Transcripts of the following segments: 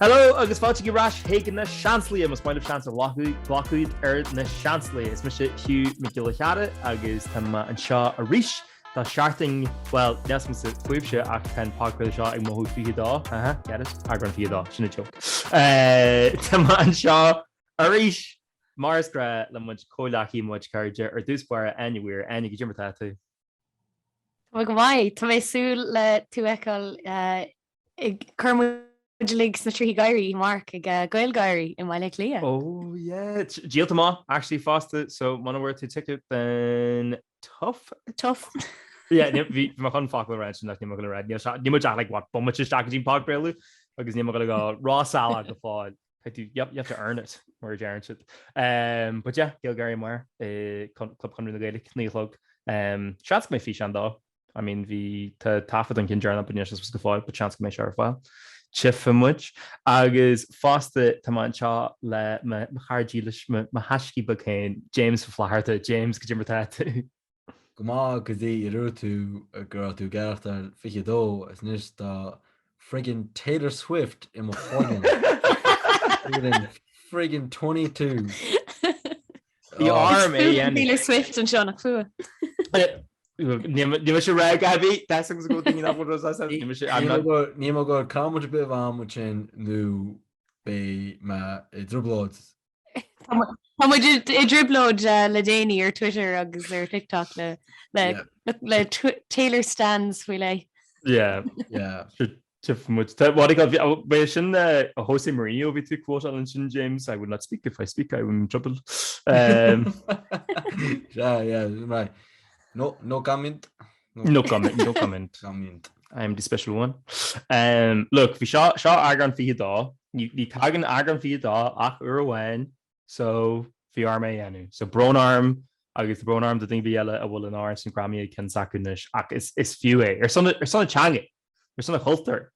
Hello agus fáilte ar ais chuig Na Seansálaithe, más maith leat seans a ghlacadh ar Na Seansálaithe. Is mise Hugh Mac Giolla Chearra agus tá mé anseo arís. Tá seachtain, bhuel, níl mé sa tréimhse ach tá an podchraoladh seo ag mothú 22, aha, get it? eagrán 22, sin an joke. Tá mé anseo arís mar is gnách le muid comhghleacaí muid cairde ar dtús báire, Áine Weir. Áine, cad é mar atá tú. Tá mé go maith. Tá mé ag súil le tú fheiceáil ag cur muid uilig sna trithí gáirí amárach ag GaelGáirí i mBaile Átha Cliath. Oh yeah! Díolta maith actually fosta, so muna bhfuair tú ticket then tough? Tough. Yeah, níl, bhí mé chun focal a rá ansin ach níl mé ag gabháil a rá, níl sé, níl muid ach like what, bomaite isteach go dtí an podchraoladh agus níl mé ag gabháil a rá salach go fóill. I do, yep, you have to earn it, mar a deireann siad. But yeah, GaelGáirí amárach i Club Chonradh na Gaeilge, naoi a chlog. Seans go mbeidh físeán de, I mean bhí, tá taifead den cheann deireanach anois as go fóill, but seans go mbeidh sé ar fáil. Tchífidh muid. Agus fosta tá mé anseo le mo chara dílis, mo thaiscidh beag féin, James Ó Flatharta. James, cad é mar atá tú. Go maith go dtí a dúirt tú go raibh tú ag aireachtáil 22 is anois tá friggin Taylor Swift i mo chloigeann feeling friggin 22 Bhí oh. orm é Fuath dhéanamh. Taylor Swift anseo nach fuath. Níl sé rá gabhí Tás agus go daoine nach bhfuil rá Ní sé I'm not Níl mé ag cur comment ar bith fán rud sin nó beidh mé i dtrioblóid Tá muid i driblóid eh, le déanaí ar Twitter agus ar TikTok le le Yeah. le tw- Taylor Stans faoi lei. Yeah. Yeah. Tiff much that what I got oh, where shin uh Jose Mourinho we took quote on Shin James. I would not speak if I speak, I would in trouble. Um yeah, yeah, right. No no comment. No comment, no comment. No comment. I am the special one. Look, bhí seo, seo eagrán 22. Ní, ní tagann eagrán 22 ach uair amháin, so bhí orm é a dhéanamh. So brón orm agus brón orm do dhuine ar bith eile a bhfuil an t-amhrán sin greamaithe i gcionn s'acu anois ach is, is fiú é. Ar son, ar son an teanga! ar son an chultúir,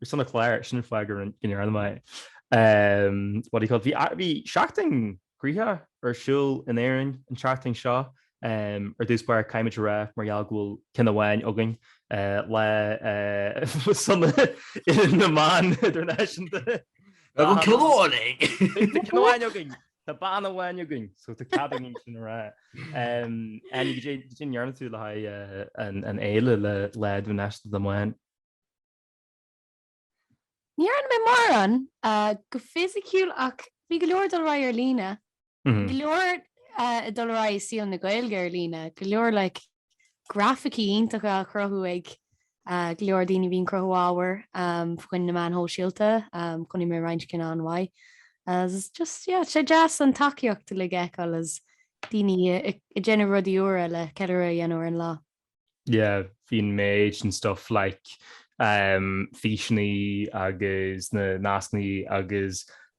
ar son an chláir, sin an fáth go ndearna mé é. What do you call it? Bhí seachtain gnoitheach ar siúl in Éirinn an tseachtain seo. Ar dtús báire, caithfimid a rá, mar gheall go bhfuil ceann amháin againn, Lá Sona na mBan Idirnáisiúnta. An ceann amháin againn! An ceann amháin againn! Tá bean amháin againn, so tá cead againn sin a rá. Áine, cad é a ndearna tú le haghaidh an fhéile le Lá Idirnáisiúnta na mBan? Ní dhearna mé mórán go fisiciúil ach bhí go leor dul ar aghaidh ar líne. Go leor ag dul ar aghaidh i saol na Gaeilge ar líne, go leor like grafaicí iontacha a chruthú ag go leor daoine a bhíonn ag cruthú ábhair chun na meáin shóisialta, chonaic mé roinnt cinn an-mhaith agus just yeah tá sé deas an tacaíocht uilig a fheiceáil agus daoine ag déanamh rudaí úra le ceiliúradh a dhéanamh ar an lá. yeah bhí an méid den stuff like físeanna agus na nascanna agus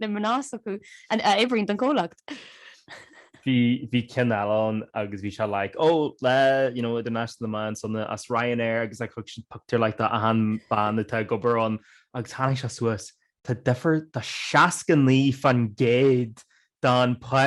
na mná s'acu a oibríonn don chomhlacht. bhí ceann eile ann agus bhí sé like oh Lá you know idirnáisiúnta na mban sona as Ryanair agus thug siad pictiúr like de achan bean atá ag obair ann agus tháinig sé suas tá difear tá 69 faoin gcéad don pá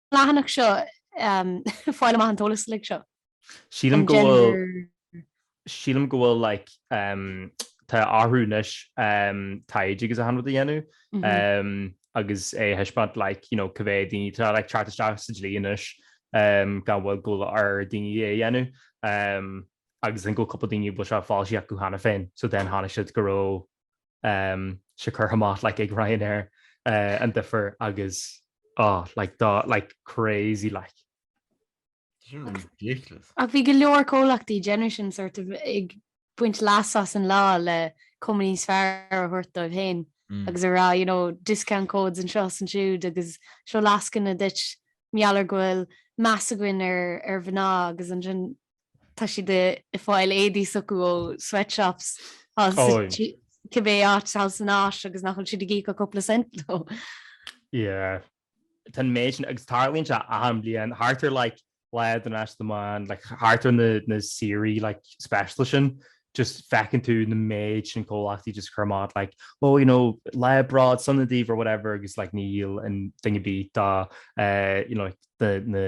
leathanach seo, fáil amach an t-eolas uilig seo. Sílim go bhfuil, sílim go bhfuil like tá orthu anois taighde agus achan rud a dhéanamh agus é a thaispeáint like you know cibé daoine atá like teacht isteach sa dlí anois gan mhoill go bhfuil ar daoine é a dhéanamh agus I think go bhfuil cúpla daoine a bhfuil sé foilsithe acu cheana féin so then chonaic siad go raibh seo curtha amach like ag Ryanair an duifear agus oh like do like crazy like. Ridiculous. Ach bhí go leor comhlachtaí ag déanamh sin sort of ag baint leas as an lá le cuma níos fearr a thabhairt dóibh féin agus a rá you know discount codes anseo is ansiúd agus seo lascaine duit mar gheall ar go bhfuil meas againn ar mhná agus ansin Tá siad i i fáil éadaí s'acu ó sweatshops thall sa Táim. tSí- cibé áit thall san Áis agus nach bhfuil siad ag íoc ach cúpla cent dó. Yeah. tá an méid sin, agus tarlaíonn sé achan bhliain, thart ar like Lá Idirnáisiúnta na mBan, like thart ar na na saoirí like speisialta sin, just feiceann tú na méid sin comhlachtaí just ag cur amach like oh you know Lá Bród sona daoibh or whatever agus like níl aon duine ar bith dá eh you know like the na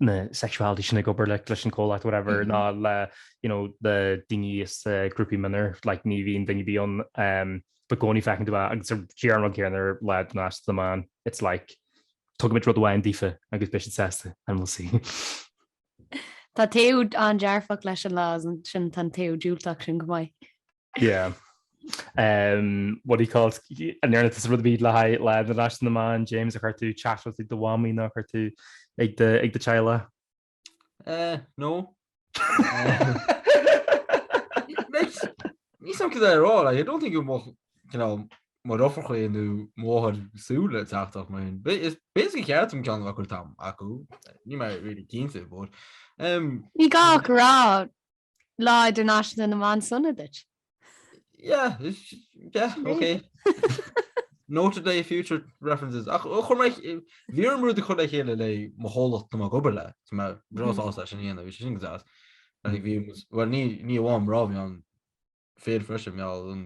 na sexuality sin ag obair le leis an comhlacht whatever ná le you know na daoine as grúpaí mionlaigh like ní bhíonn duine ar bith ann um but i gcónaí feiceann tú é agus sé an rud céanna ar Lá Idirnáisiúnta na mBan it's like tugaimid rud amháin daofa agus beidh siad sásta and we'll see. Tá taobh an-dearfach leis an lá ansin tá an taobh diúltach sin chomh maith. Yeah. Um, what do you call it? An ndearna tusa rud ar bith le haghaidh Lá Idirnáisiúnta na mBan, James, ar chuir tú chat rud ag do mhamaí nó ar chuir tú ag do, ag do teaghlach? Eh, no. Like, níl a fhios agam cad é a rá, like, I don't think it mo, you know, mo dheirfiúracha nó máthair ag súil le teachtaireacht mar sin. Ba- Is basically ceart dom ceann a chur amach chucu. Níl mé really cinnte, but... Um, Ní gá ach a rá Lá Idirnáisiúnta na mBan Sona duit! Yeah, yeah, ok. Nóta le haghaidh future references. Ach chomh maith, bhí orm rud a chur le chéile le mo chomhlacht atá mé ag obair le, tá mé breá sásta é sin a dhéanamh, bhí sé sin go deas. Like, bhí, well, ní, ní amháin mná bhí ann, fir freisin, mheall an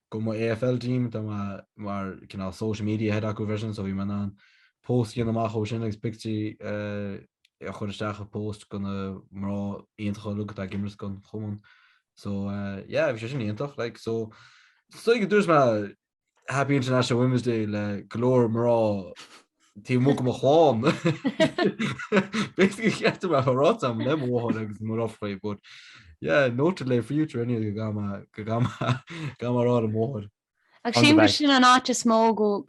Do mo AFL team, tá mé mar cineál social media head acu freisin, so bhí mé in ann post a dhéanamh amach ó sin agus pictiúirí a chur isteach i post de na mná iontacha uilig atá ag imirt don chumann. So yeah, bhí sé sin iontach like. So is dóigh go dúirt mé Happy International Women's Day le go leor mná Taobh amuigh de mo chlann. Basically cheart dom é a rá am le mo mháthair agus mo dheirfiúr but yeah, noted le future anyway go go go gcaithfidh mé a rá le mo mháthair. Ach sin go sin an áit is mó go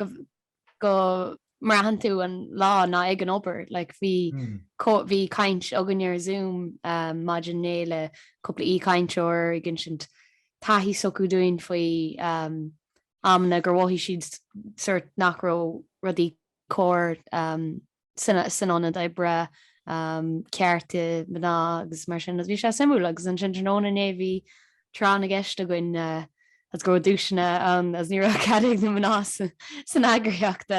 go mbraitheann tú an lá ná ag an obair. Like bhí bhí caint againne ar Zoom maidin inné le cúpla aoi-chainteoir ag insint taithí s'acu dúinn faoi amanna gur mhothaigh siad sórt nach raibh rudaí cóir san ionad oibre, cearta mná agus mar sin. Bhí sé suimiúil agus ansin tráthnóna inné bhí tráth na gceist againn agus go raibh duaiseanna ann agus ní raibh cead ag na mná san eagraíocht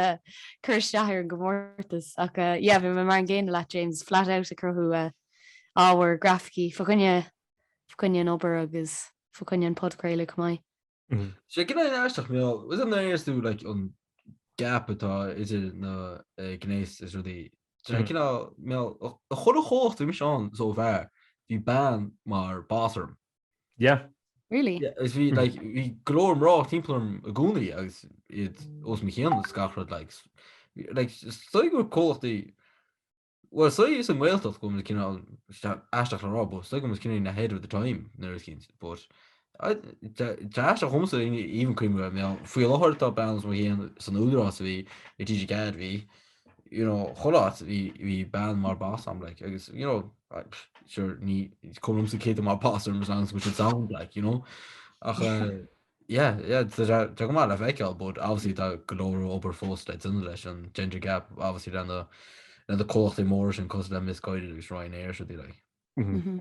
cur isteach ar an gcomórtas ach yeah bhí mé mar an gcéanna leat James, flat out ag cruthú ábhar, grafaicí fá choinne an obair agus fá choinne an podchraoladh chomh maith. Sé cineál aisteach bhuel, is ann a fheiceas tú like an gap atá idir na eh, gnéas is rudaí. Tá sé Mm. cineál mar chuile chomhlacht a bhí mise ann so far. Bhí bean mar boss orm. Yeah. Really? Yeah, is bhí Mm. like bhí go leor mná timpeall orm i gcónaí agus iad os mo chionn is gach rud like s- like is dóigh gur comhlachtaí Bhuel, is dóigh sa nGaeltacht go bhfuil na cineál isteach, aisteach le rá, but is dóigh go bhfuil muid cineál ahead of the time, nuair a is cinnte, but tá aisteach dhomsa even cuimhin raibh mé ann, faoi láthair tá bean os mo chionn san údarás a bhí, i TG4 bhí, you know, chuile áit, bhí, bhí bean mar boss orm, like, agus, you know, sure, ní, is cuma liomsa cé atá mar boss orm as long as go bhfuil siad sound, like, you know, ach eh, Yeah, yeah, so tá tá go maith le feiceáil, but obviously tá go leor obair fós le déanamh leis an gender gap, obviously le na le na comhlachtaí móra sin cosúil le Misguided agus Ryanair is rudaí like. Mhm. Mhm.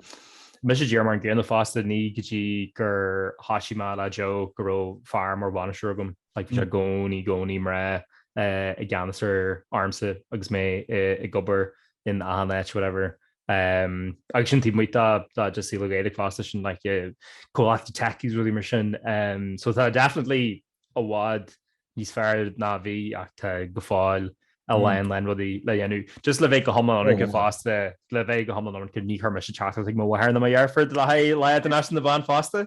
Mise díreach mar an gcéanna fosta, ní go dtí gur thoisigh mé le Joe go raibh fear mar bhainisteoir agam, like bhí sé i gcónaí i gcónaí mná eh, i gceannas ar ormsa agus mé ag obair in achan áit, whatever. Agus sin taobh amuigh de just saol na Gaeilge fosta, sin like comhlachtaí techies, rudaí mar sin. So tá definitely i bhfad níos fearr ná a bhí ach tá go fóill a lán lán rudaí le dhéanamh. Just le bheith go hiomlán ionraic fosta, le bheith go hiomlán ionraic ní chuir mise teachtaireacht ag mo mháthair nó mo dheirfiúr le haghaidh Lá Idirnáisiúnta na mBan fosta.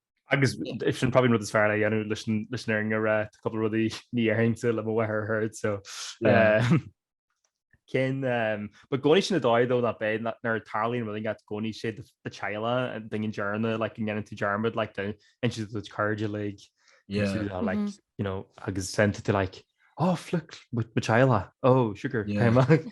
Agus sin probably an rud is fearr like le haghaidh an Oireachtais ó tá cupla rudaí níor inis mé le mo mháthair a thabhairt so cén Ba gcónaí sin an dóigh though nach ea nuair a tarlaíonn rud agat gcónaí 'sé do theaghlach an duine deireanach like go ndéanann tú dearmad like insíonn tú do do chairde like you know agus déanann tú like oh fuck mo theaghlach oh sugar cén mbeadh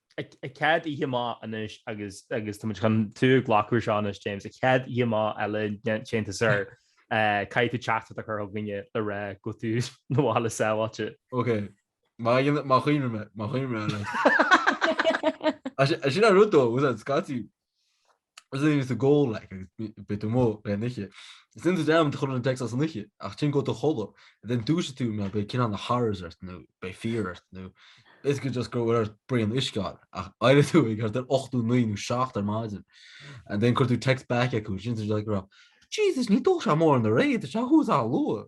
ó go díreach amach anois agus agus tá muid chun tú a ghlacadh air seo anois James, an chéad oíche amach eile déanta agat sir, caithfidh tú teachtaireacht a chur chugainne le rá go bhfuil tú sa bhaile sábháilte. Ok, má dhéanann, má chuimhním mé, má chuimhním mé anois. Sin an rud though, I was at Scotty. 's i gcónaí do chodladh like agus bit de mhaoil na hoíche. Seolann daoine chugat an téacs san oiche, ach téann tú a chodladh, and then dúisigh tú mar beidh cineál na horrors ort nó beidh fear ort nó basically just go bhfuil uait braon uisce ann, ach éireoidh tú thart ar ocht nó naoi nó seacht ar maidin, and then cuir tú text back chucu, is ceapann siad like go raibh, Jesus níor ól sé mórán aréir, tá sé thuas chomh luath.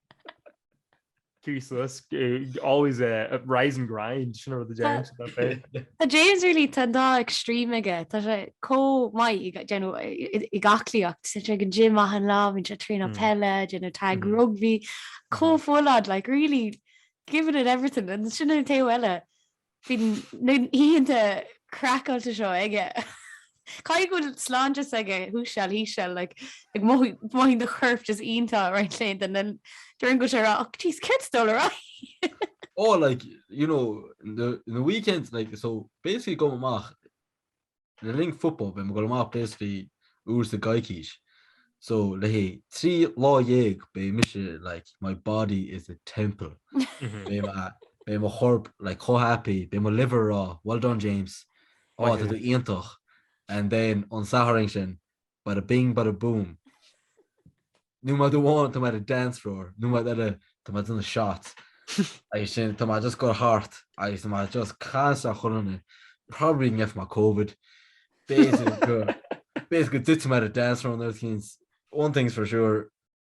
useless, always rise and grind, sin an rud a deireann siad le James. Tá James really, tá an dá extreme aige, tá sé chomh maith i you know i ngleacaíocht, tá sé ag an gym achan lá, bíonn sé ag traenáil peile, déanamh tag rugbaí, chomh full-on like really giving it everything ansin an taobh eile Bíonn na hoícheanta craiceáilte seo aige. Caithfidh go bhfuil sláinte s'aige thuas seal thíos seal like like mothaíonn do chorp go hiontach roinnt laethanta and then deireann sé rá oh jeez céard atá dul ar aghaidh? Oh like you know in the weekends like so basically go amach Le linn football beidh mé ag dul amach basically uair sa gcoicís so le haghaidh trí lá dhéag beidh mise like my body is a temple beidh mé beidh mo chorp like chomh happy beidh mo liver a rá well done James ó tá tú iontach and then an Satharn sin bada bing bada boom. No matter what, tá mé ar an dance floor, no matter what, tá mé ina shot, agus sin tá mé just gur thart agus tá mé just casadh chun an probably didn't get from my covid, basically go dtitear mé ar an dance floor an oiread cinn, one thing's for sure,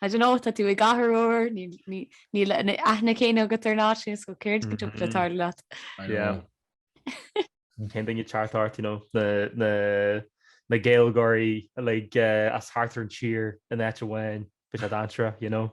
I don't know, tá tú i gcathair úr, níl an aithne chéanna agat ar an áit sin, so céard go dtiocfadh le tarlú leat? I know. Yeah. Cinnte an ceart agat, you know, na Gaeilgeoirí like as thart ar an tír in áit amháin it's a bit of downtime, you know.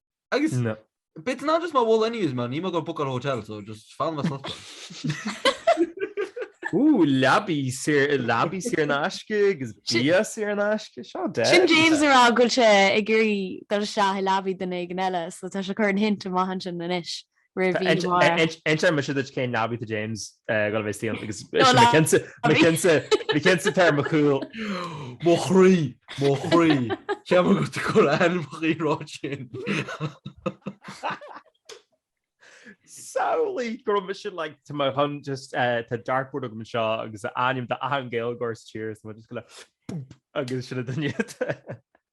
Agus No. but nach eadh is má bhíonn anyways man, níor mé gur bhookáil hotel so just fan mé sa lobby. Ooh leabaidh saor leabaidh saor in aisce agus Sin- bia saor in aisce, sorted. Sin James a rá go bhfuil sé ag iarraidh dul isteach i leabaidh duine éigin eile so tá sé ag cur an hint amach ansin anois. roimh mhí Mháire. Inseoidh mise duit cén leabaidh do James go raibh fhios díom agus bhí cinnte ar mo chúl. Mo chroí! Mo chroí! Cheap mé go raibh tú ag cur ainm chuí rud sin. Samhlaigh go raibh mise like tá mé chun just tá dartboard agam anseo agus a ainm d'achan Gaeilgeoir sa tír is mé just go le bump agus sin a duine.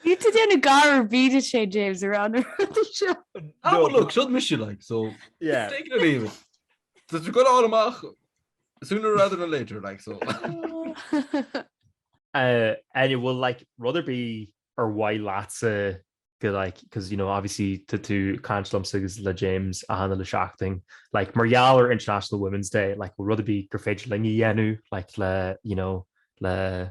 Níl tú déanamh gar ar bith duit féin, James, ar an rud seo. Ah, well, look, seo mise, like, so take it or leave it. Tá sé ag goil amach sooner rather than later, like, so. Áine, bhfuil, like, rud ar bith ar mhaith leatsa go, like, because, you know, obviously, tá tú caint liomsa agus le James achan uile seachtain, like, mar gheall ar International Women's Day, like, rud ar bith gur féidir linn a dhéanamh, like, le, you know, le,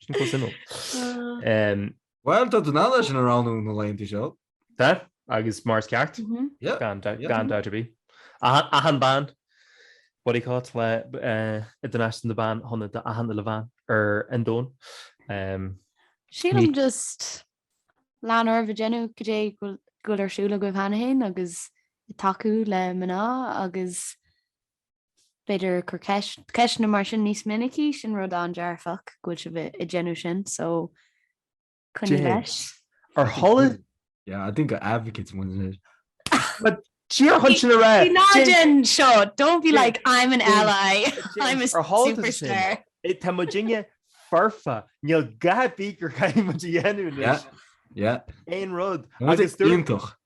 Sin chomh suimiúil. Ehm, Bhuel, tá den eala sin a roghnú na laethanta seo. Tá, agus mar is ceart, Mhm. Yeah. gan da- Yeah. gan doubt ar bith. Achan- Achan bean, what do you call it, Lá eh, Idirnáisiúnta na mBan shona d'achan uile bhean ar an domhan. Ehm, Sílim Ní- just lean oraibh ag déanamh cad é go bhfuil- go bhfuil ar siúl agaibh cheana féin agus ag tacú le mná agus b'fhéidir cur ceisteanna mar sin níos minicí, sin rud an-dearfach go bhfuil sibh ag déanamh sin, so coinnigh leis. Ar tharla. Yeah, I think we're advocates more than anything. But Tír chun sin a rá. Ní ná déan seo, don't be like I'm an ally, I'm a superstar. Tá muidinne foirfe, níl a dhath ar bith gur caithfidh muid a dhéanamh anois. Yeah, yeah. Aon rud. Muid go hiontach.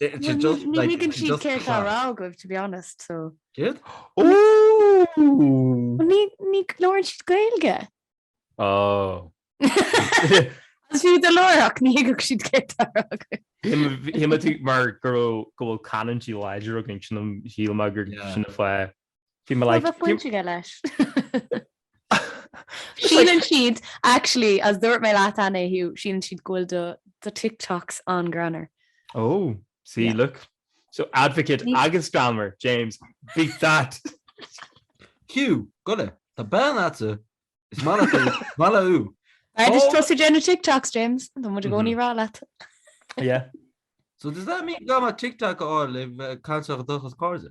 Ní thuigeann siad cad é atá á rá agaibh, to be honest, so. Céard? Ooh! Ní, ní, labhrann siad Gaeilge. Oh. Is fiú dá labhródh ní thuigfeadh siad cad é atá á rá agaibh. Shíl mé tú, mar go raibh, go bhfuil canúintí láidre againn, sin an, shíl mé gur sin an fáth. Bhí mé like. Bhí mé baint aige leis. Síleann siad, actually, is dúirt mé leat cheana Hugh, síleann siad go bhfuil do do TikToks an-greannmhar. Oh, see, Yeah. look. So advocate Ní- agus greannmhar, James, beat that! Hugh, gabh i leith, tá bean a'tsa, is maith léithe, maith léi Hugh. B'fhearr duit Oh. tosaigh déanamh TikToks, James. Tá muid i gcónaí a rá leat. Yeah. So does that mean gan mé TikTok a fháil, I've uh, cancelled a dtochas cairde?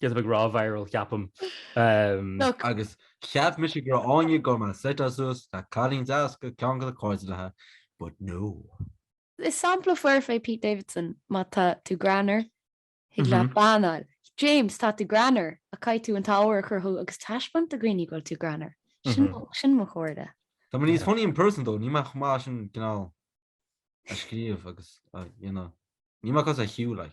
Siad ag rá viral ceapaim. Agus cheap mise go raibh Áine go maith suite suas le cailín deas ceann dá cairde, but no. Is sampla foirfe é Pete Davidson, má tá tú greannmhar, thig leat bean a fháil. James, tá tú greannmhar, ach caithfidh tú an t-ábhar a chruthú agus taispeáint do dhaoine go bhfuil tú greannmhar. Sin mo chomhairle. Tá mé níos funny in person though, níl mé chomh maith sin cineál ag scríobh agus a, you know, níl mé cosúil le.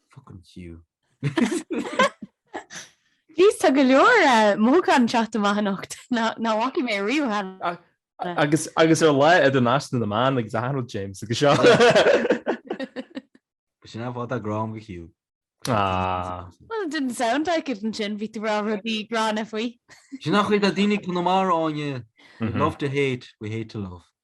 Fucking Hugh. Jeez, tá go leor mothúcháin ag teacht amach anocht. Nach bhfaca mé ariamh cheana. Agus ar Lá Idirnáisiúnta na mBan agus achan rud James agus seo. Bhí sé an-mhaith dá gcrom do Hugh. Well it didn't sound like it ansin, bhí tú ag rá rudaí gránna faoi. Sin an chaoi atá daoine Chonamara, Áine, we love to hate, we hate to love.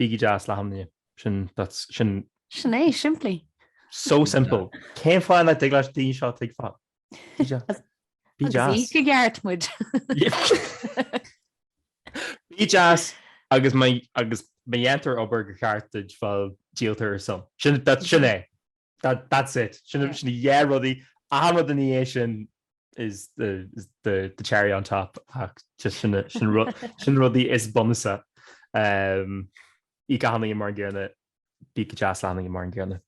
Bígí deas le hachan duine. Sin, that's, sin. Sin é, simplí. So simple. Cén fáth nach dtig le daoine seo a thuigbheáil? Bí deas. Bí deas. Agus íoc go ceart muid. Bí deas agus má, agus má dhéantar obair go ceart duit, bhuel, díoltar ar a son. Sin, that's, sin é. That's it. Sin na dhá rudaí. Achan rud ina dhiaidh sin is the cherry on top ach just sin na rudaí is bunúsaí. Íoc achan duine mar an gcéanna, bí go deas le hachan duine mar an gcéanna.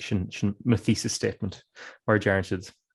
Sin mo thesis statement mar a deireann siad.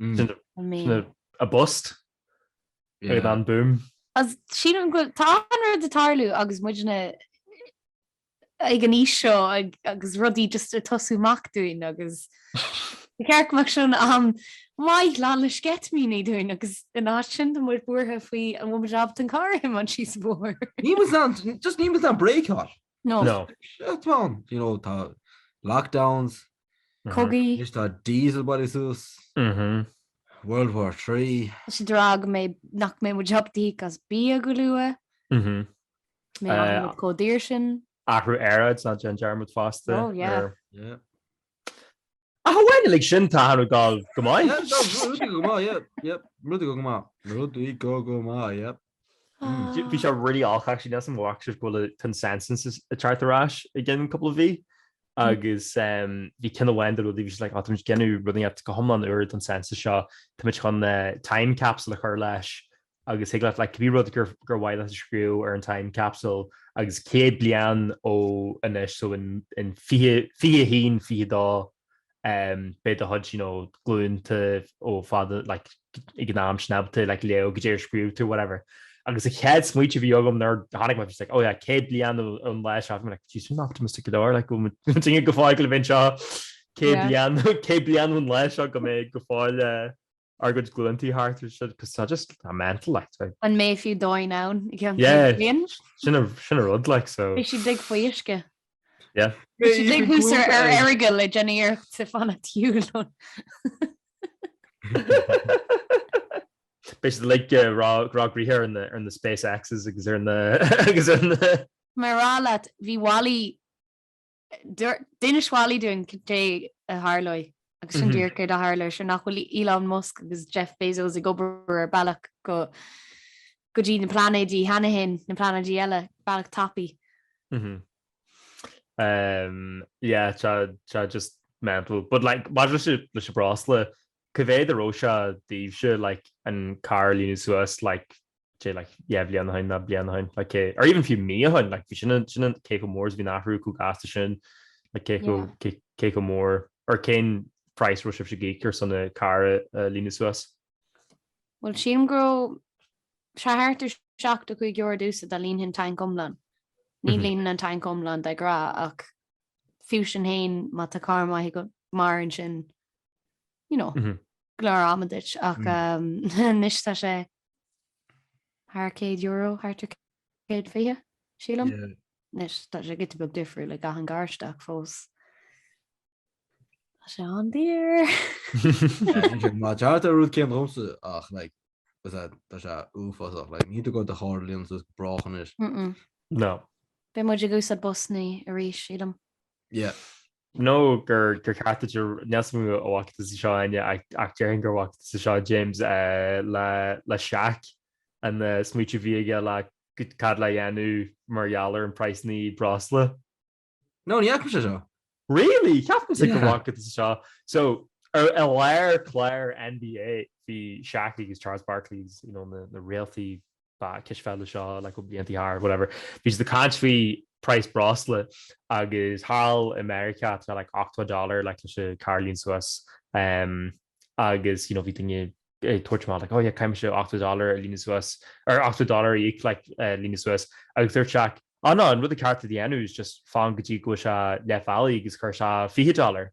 Sin an bust agus an boom. Sílim go bhfuil, tá an rud ag tarlú agus muidne ag an aois seo agus rudaí just ag tosú amach dúinn agus ba cheart go mbeadh sé ina am maith lán le sceitimíní dúinn agus ina áit sin tá muid buartha faoi an bhfuil muid ábalta an carr a thiomáint síos an bóthar. Just níl muid in ann break a fháil. No. No. Shit man! You know, tá lockdowns. Cogaí. Anois tá diesel bailithe suas. Mhm. World War Three. Is déarfaidh mé nach mbeidh muid ábalta íoc as bia go luath. Mhm. Beidh achan rud chomh daor sin. Athrú aeráide, ná déan dearmad fosta. Oh yeah. Yeah. Ach amháin uilig sin, tá achan rud ag gabháil go maith. Rudaí go maith, yeah, yep, rudaí go maith. Rudaí go go maith, yep. Umm. Bhí sé really odd actually, níl sé an-mhaith actually go bhfuil an census ag teacht ar ais i gceann cúpla mí, agus bhí ceann amháin de na rudaí bhí siad like oh táimid ag déanamh rudaí go hiomlán úr don census seo, táimid chun time capsule a chur leis, agus thig leat like cibé rud gur gur mhaith leat a scríobh ar an time capsule agus céad bliain ó anois so in in fiche fiche a haon fiche a dó em beidh do chuid you know glúnta ó fad like ag an am sin ábalta like léamh goidé a scríobh tú whatever agus an chéad smaointiú a bhí agam nuair a chonaic mé just like oh yeah céad bliain ó an lá seo I'm like geez sin optimistic go leor like go bhfuil muid muid go fóill gabháil a bheith anseo céad Yeah. bliain céad bliain ón lá seo go mbeidh go fóill eh, Ár gcuid glúntaí thart ar siúd cos tá sé just mental like tá. An mbeidh fiú domhan ann i gceann céad bliain? Sin an sin an rud like so. Beidh siad ag faoisce. Yeah. Beidh siad ag thús ar ar aghaidh le déanamh iarracht te fana tiúil ann. Beidh siad like ag rá rá gcroíthe ar na ar na space Xs agus ar na agus ar na. Mé ag rá leat bhí Wally D'inis Wally dúinn cad é a tharlóidh, agus sin díreach céard a tharla, seo nach bhfuil Elon Musk agus Jeff Bezos ag obair ar bealach go go dtí na pláinéid cheana fhéin, na pláinéid eile, bealach tapaidh. Yeah, tá sé just mental. But like, maidir leis an breosla, cá mhéad a raibh sé daoibhse, like, an carr a líonadh suas, like, sé like yeah bliain ó shin nó bliain ó shin like cé or even fiú mí ó shin like bhí sin an sin an cé go mór is bhí an t-athrú chomh gasta sin like cé go cé go mór ar cén price a raibh sibhse ag íoc ar son an carr a líonadh suas Bhuel sílim go raibh sé thart ar 75 euro domhsa dá líonfainn tank iomlán ní mhm. líonaim an tank iomlán de ghnáth ach fiú sin féin má tá carr maith agat mairfidh sin you know, go leor ama duit ach anois tá sé thar céad euro, thart ar 120, sílim. Anois tá sé giota beag difriúil le achan carr ach fós. Tá sé an-daor. Bhuel tá thart ar an rud céanna dhomsa ach like is ea, tá sé uafásach, like níl tú ag dul do charr a líonadh suas go brách anois. Mm-mm. No. Beidh muid ag úsáid busannaí arís, sílim. Yeah. No go ndúirt tú é, níl a fhios agam an bhfaca tusa seo Áine, ach déarfainn go bhfaca tusa seo James, le Shaq an smaoineamh a bhí aige le cad le dhéanamh mar gheall ar an praghas breosla. No, ní fhaca mé seo. Really? Cheapfainnse go bhfaca tusa seo. So, i lár cláir NBA, bhí Shaq agus Charles Barkley, you know, na réaltaí móra cispheile seo like ó blianta siar, whatever. Bhí siad ag caint faoi praghas breosla agus thall i Meiriceá tá sé like ochtó dollar like leis an carr a líonadh suas um agus you know bhí daoine ag tabhairt amach like oh yeah caithfidh mise ochtó dollar a líonadh suas or ochtó dollar a íoc like a líonadh suas agus dúirt Shaq oh no an rud is ceart a dhéanamh is just fan go dtí go bhfuil sé leath bealaigh agus cuir isteach fiche dollar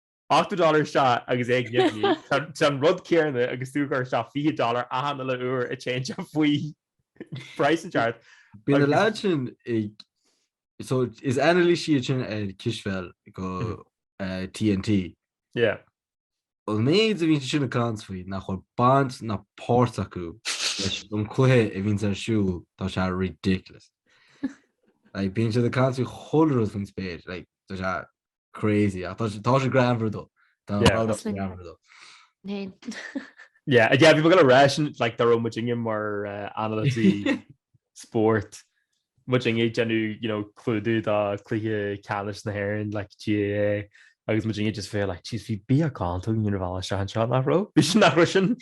Ochtó dollar isteach, agus é ag nimhniú, tá tá an rud céanna agus tú ag cur isteach fiche dollar achan uile uair a téann sé faoi phraghas áirithe. Bíonn na leaids sin ag, so is anailísithe iad sin ar chispheil do TNT. Yeah. An méid a bhíonn siad sin ag caint faoi nach bhfuil baint ná páirt acu leis an gcluiche a bhíonns ar siúl, tá sé ridiculous. Like, bíonn siad ag caint faoi chuile rud faoin spéir, like, tá sé, Crazy ach tá sé greannmhar though. Tá an bhall sin greannmhar though. Yeah, yeah bhí mé ag goil a rá like dá raibh muidinne mar anailísí spóirt, muidinne ag déanamh you know clúdú dá cluiche ceannais na hÉireann like GAA agus muidinne just bheith like jeez bhí beagán tugainn ar an mbealach isteach anseo nach raibh? Bhí sin nach raibh sin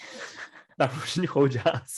nach raibh sin chomh deas.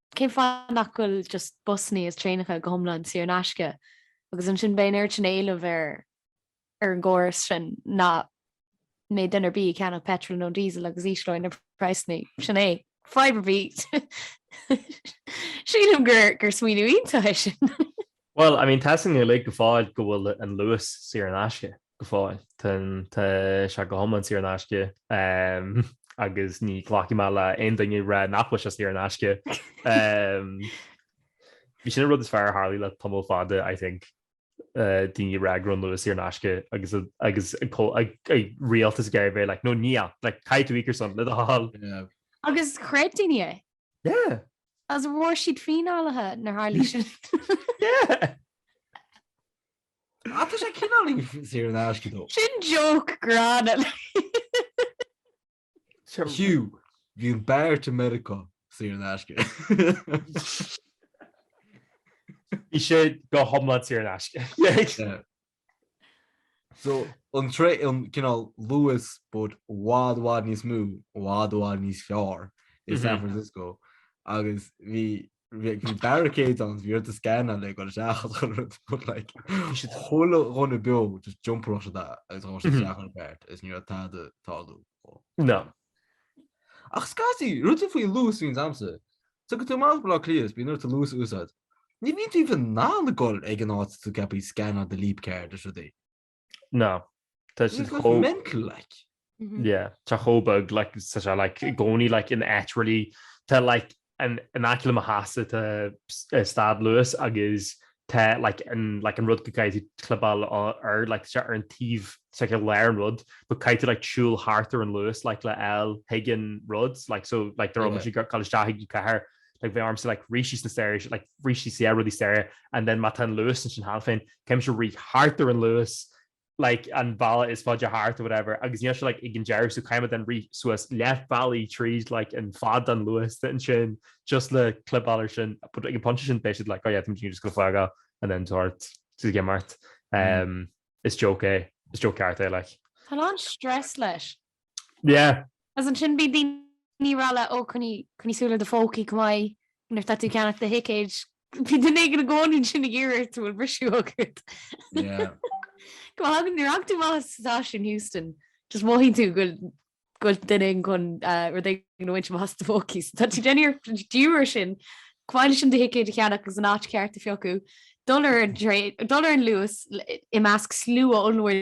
Cén fáth nach bhfuil just busanna is traenacha go hiomlán saor in aisce? Agus ansin beidh an oiread sin éilimh ar ar an gcóras sin nach mbeidh duine ar bith ag ceannach petrol nó diesel agus ísleoidh na praghsanna. Sin é. Fadhb ar bith. Sílim gur gur smaoineamh iontach é sin. Bhuel, I mean, tá a fhios againn uilig go fóill go bhfuil an luas saor in aisce, go fóill. Tá an, tá sé go hiomlán saor in aisce agus ní ghlacfaidh mé le aon duine a rá nach bhfuil sé saor in aisce. Bhí sin an rud is fearr a tharlaigh le tamall fada, I think, daoine ag rá go raibh an luas saor in aisce agus, agus an rialtas ag bheith like, no níl, like caithfidh tú íoc ar son le do thoil. Agus chreid daoine é? Yeah. Is an bhfuair siad fíneáilte nuair a tharlaigh sin? Yeah! Ah, tá sé cineál saor in aisce though. Sin joke gránna. Sure. Fiú, bhí an BART i Meiriceá saor in aisce. Bhí sé go hiomlán saor in aisce. Yeah. Yeah. So, an traein é, cineál Luas but i bhfad, i bhfad níos mó, i bhfad, i bhfad níos fearr i San Francisco. Agus bhí, bhí, bhí barricades ann, bhí ort scannáil le goil isteach chun rud, but like, bhí siad chuile dhuine beo, just jump tharstu, agus ghabh siad isteach ar an BART, agus ní raibh tada ag tarlú. No. Ach scaití, rud é faoin Luas bhíonn damsa, tiocfaidh tú amach Baile Átha Cliath is bíonn ort an luas a úsáid. Ní bhíonn tú even in ann dul ag an áit atá tú ceaptha scannáil do Leap card is rudaí. No. Tá siad chomh mental like. Yeah, tá chomh beag like tá sé like gcónaí like in áit really tá like in aice le mo theach tá stad luas agus tá like an like an rud go gcaithfidh tú clibeáil air like tá sé ar an taobh it's like i lár an rud but caithfidh tú like siúl thart ar an luas like le fháil chuig an rud like so like dá raibh muid ag gabháil isteach chuig an chathair like bheadh ormsa like rith síos na staighre like rith síos yeah rud na staighre and then má tá an luas ansin cheana féin caithfidh mé rith thart ar an luas like, an bealach is faide thart or whatever, agus níl sé like ag an deireadh, so caithfidh mé then rith suas leath bealaigh tríd like an fad den Luas ansin just le clibeáil ar sin, but ag an pointe sin beidh siad like oh yeah tá muidne just gonna flag off and then tabhairt sa gcimeárt. Is joke é, is joke ceart é like. Tá an-stress leis. Yeah. As ansin bhí daoine rá liom ó coinnigh coinnigh súil ar do phócaí chomh maith nuair tá tú ceannacht do thicéid. Bhí duine éigin i gcónaí ansin ag iarraidh ort an bhfuil briseadh agat. Yeah. Go háirithe nuair a thagann tú amach as an stáisiún Heuston just mothaíonn tú go bhfuil go bhfuil duine éigin chun eh, rud éigin a bhaint amach as do phócaí so tá tú déanamh iarracht díriú air sin chomh maith leis an do thicéad a cheannacht agus an áit cheart a phiocadh dul ar an dtraein dul ar an luas i measc slua ollmhór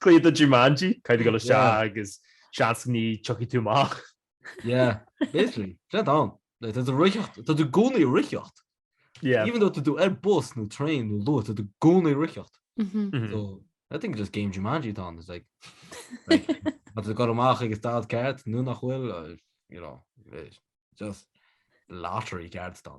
Cluiche de Jumanji, caith go sé agus seans ní tiocfaidh tú amach. Yeah, basically, tá ann. Like, tá tú ag reáchtáil, tá tú i gcónaí ag reáchtáil. Yeah. Even though tá tú ar bus nó train nó Luas, tá tú i gcónaí ag reáchtáil. Mm-hmm. So, I think just game Jumanji atá ann, it's like, like, tá tú ag gabháil amach agus tá tú ceart, nó nach bhfuil, or, you know, just lottery ceart atá.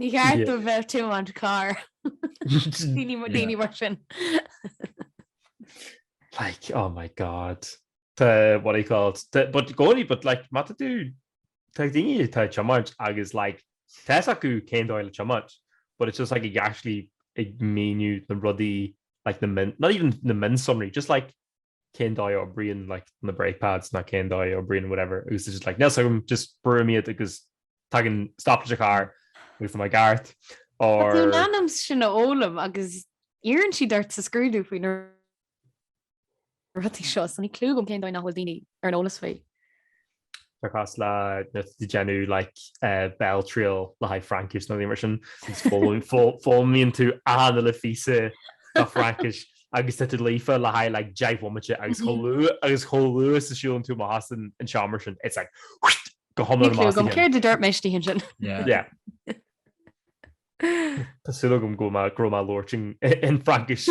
Ní cheart do bheith tiomáint carr. Daoine mar sin. Like, oh my God. Tá, what do you call it, tá, but gcónaí, but like, má tá tú, tá daoine atá ag tiomáint agus like, tá a fhios acu cén dóigh le tiomáint, but it's just like ag actually ag míniú na rudaí, like na min, not even na mionsonraí, just like cén dóigh a oibríonn like na brake pads nó cén dóigh a oibríonn whatever agus it's just like níl 's agam just brúim iad agus tagann stop leis an charr agus tá mé ag gabháil thart. Tá tú in ainm sin a fhoghlaim agus iarrann siad ort sa scrúdú faoi na rudaí seo so níl clú agam cén dóigh nach bhfuil daoine ar an eolas faoi. Tá cás le déanamh like béaltriail le haghaidh Fraincis nó rud mar sin foghlaimíonn tú an ollphíosa de Fraincis agus tá tú líofa le haghaidh like deich mbomaite agus chomh luath is a siúlann tú amach as an seomra sin it's like whitt go hiomlán amach as do cheann. Níl clue agam céard a dúirt mé istigh ansin. Yeah. Tá súil agam go raibh mé labhairt in Fraincis.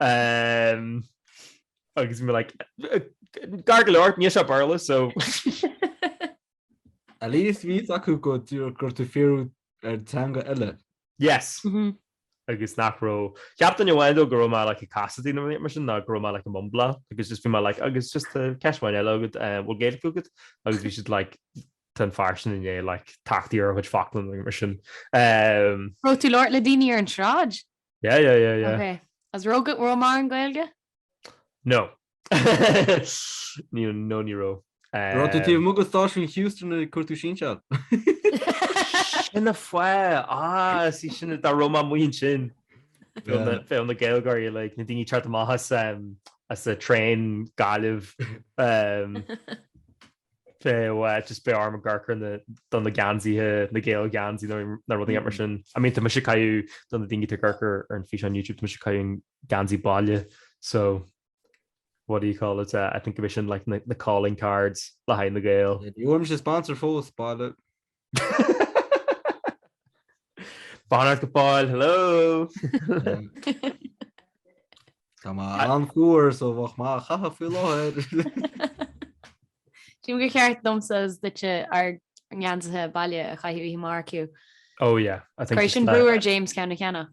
Umm agus bhí like gar go leor, níos mó Béarla so. At least bhí fhios acu go go raibh tú ag fiafraí ar teanga eile. Yes. Mhm. Agus nach raibh, cheap duine amháin dóibh go raibh mé like ag casachtaí nó rud mar sin ná go raibh mé like ag mumbláil agus just bhí mé like agus just tá ceist amháin eile agam eh, an bhfuil Gaeilge agat? Agus bhí siad like tá an fear sin ina like tachtadh ar a chuid focla nó rud mar sin. Umm. Raibh tú labhairt le daoine ar an tsráid? Yeah yeah yeah yeah. Ok. An raibh go leor mar an Gaeilge? No. No no ní raibh. Raibh tú taobh amuigh de stáisiún Heuston nuair a chuir tú sin, sea. Sin an fáth! Ah sea sin dá raibh mé amuigh ansin. Bheadh na Gaeilgeoirí like na daoine ag teacht amach as as a train Gaillimh. Just beidh orm ag amharc do na geansaithe, na Gael geansaí nó na rudaí mar sin. I mean, tá mise ag caitheamh, do na daoine atá ag amharc ar an físeán YouTube, tá mise ag caitheamh geansaí baile. So, what do you call it, I think go mbeidh sin like na calling cards le haghaidh na Gael. Ní bhfuair mise sponsor fós, baile. Bonn ort go fóill, hello! Tá mé an-fhuar so bheadh mé á chaitheamh faoi láthair. Tuigim gur cheart domsa is duitse ár ngeansaithe baile a chaitheamh oíche amárach though. Oh yeah, I think cuirfidh sin brú ar James ceann a cheannach.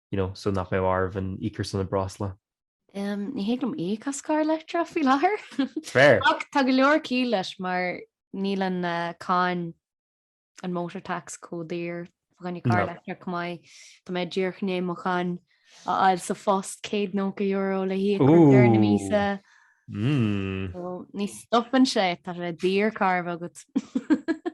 you know, so nach mbeadh oraibh íoc ar son na breosla. Um, ní thig liom íoc as carr leictreach faoi láthair. Fair. Ach tá go leor ciall leis mar níl an uh, cáin, an motor tax chomh daor fá choinne carr leictreach chomh maith. Tá mé díreach i ndiaidh mo cháin a fháil sa phost €190 le híoc ar deireadh na míosa. Ooh. Mm. So, ní stopann sé, tá sé daor carr a bheith agat.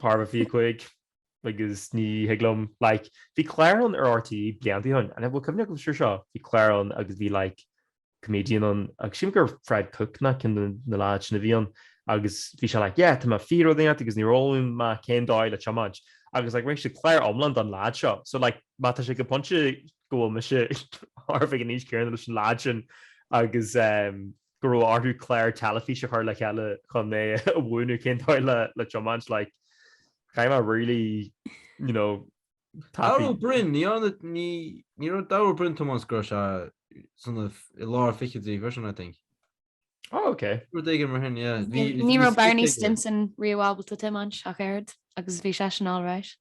Thar fiche a cúig agus ní thig liom, like, bhí clár ann ar RTÉ blianta ó shin, an bhfuil cuimhne agaibh ar seo? Bhí clár ann agus bhí like comedian ann agus sílim gur Fred Cooke ná ceann de na leaids sin a bhí ann agus bhí sé like yeah tá mé fiche rud inteacht agus níor fhoghlaim mé cén dóigh le tiomáint agus like rinne siad clár iomlán don leaid seo so like má tá sé go pointe go bhfuil mise ag an aois chéanna leis an leaid sin agus um, go raibh orthu clár teilifíse a chur le chéile chun é a mhúineadh cén dóigh le tiomáint, like, caithfidh mé really, you know, tapaidh. Dara Ó Briain, ní ann, ní raibh Dara Ó Briain ag tiomáint go raibh seisean i lár na fichidí freisin, I think. Oh, ok. Rud éigin mar sin, yeah. Bhí, bhí, Ní raibh Barney Stinson riamh ábalta tiomáint ach oiread, agus bhí seisean alright.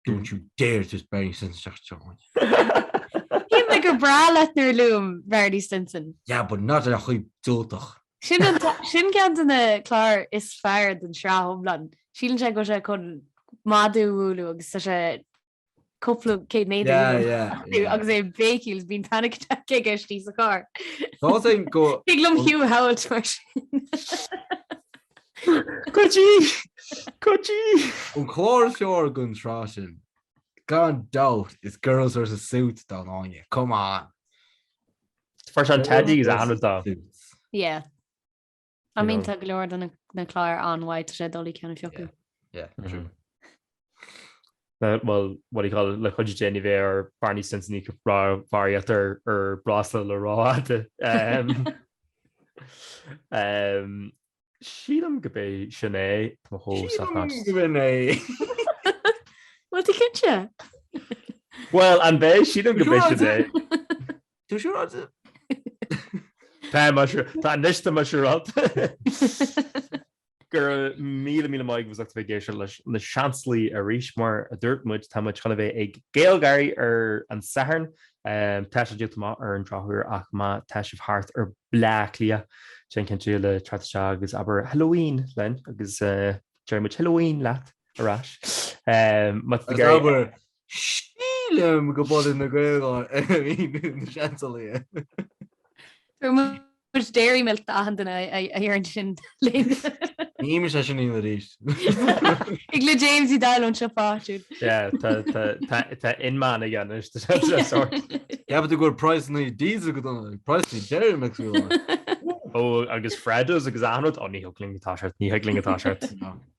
Don't you dare diss Barney Stinson isteach sa teach uainn. Shíl mé gur breá leat nuair a luaim Barney Stinson. Yeah, but not ar chaoi diúltach. Sin ceann de na cláir is fearr den sraith iomlán. Síleann sé go bhfuil sé chun madadh a bhualadh agus tá sé cúpla céad méadar níos lú agus é ag béicíl is bíonn panic attack aige istigh sa charr. Thig liom thú a shamhailt mar sin. Cuidí! Cuidí! An clár is fearr den tsraith sin, gan dabht, is Girls vs Suits dá n-aoinne. Come on! Fuair sé an Teddy is annamh dá. Suits. Yeah. I mean tá go leor de na cláir an-mhaith, tá sé doiligh ceann a phiocadh. Yeah, true. Bhuel, what do you call it, le cuid déanaí bheith ar Barney Stinson í go bhfaraíocht ar breosla le ráite. Sílim gurb é sin é, tá mo chomh sách as. Sílim go bhfuil é. Bhuel, tú cinnte? Bhuel, an mbeidh? Sílim gurb é sin é. Tú siúráilte? Tá, anois tá muis ar alt. Go raibh míle míle maith agaibh as ucht a bheith ag éisteacht leis na Seansálaithe arís. Mar a dúirt muid, tá muid chun a bheith ag GaelGÁIRÍ ar an Satharn. Tá sé díolta amach ar an drochuair ach má tá sibh thart ar Bleá Cliath, déan cinnte le tarraingt isteach agus abair Halloween linn agus déarfaidh muid Halloween leat ar ais. Má tá Sílim go baineann na Gaeláin ar an míniú na Seansálaithe. Tá muid dairy milk d'achan duine a dhearn sin linn. Ní muid sé sin fhíona arís. Thig le James Uí Daill anseo fáitiúil. Yeah, tá inmeán aige anois de sa sórt. Cheapfaidh tú gur praghsanna diesel chomh dona le praghsanna dairy milk faoi láthair. Ó, agus Freddos agus achan rud. Ó, ní thig linn go dtá sé ort, ní thig linn go dtá sé ort.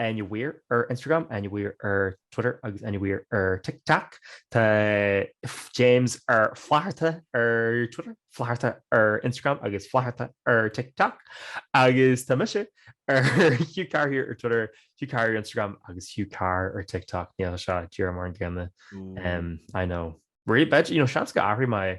Áine Mhaoir ar Instagram, Áine Mhaoir ar Twitter agus Áine Mhaoir ar TikTok. Tá James ar Flatharta ar Twitter, Flatharta ar Instagram agus Flatharta ar TikTok. Agus tá mise ar Hugh Carr here ar Twitter, Hugh Carr ar Instagram agus Hugh Carr ar TikTok. Níl sé díreach mar an gcéanna, I know. Beidh, you know, seans go athraíonn mé.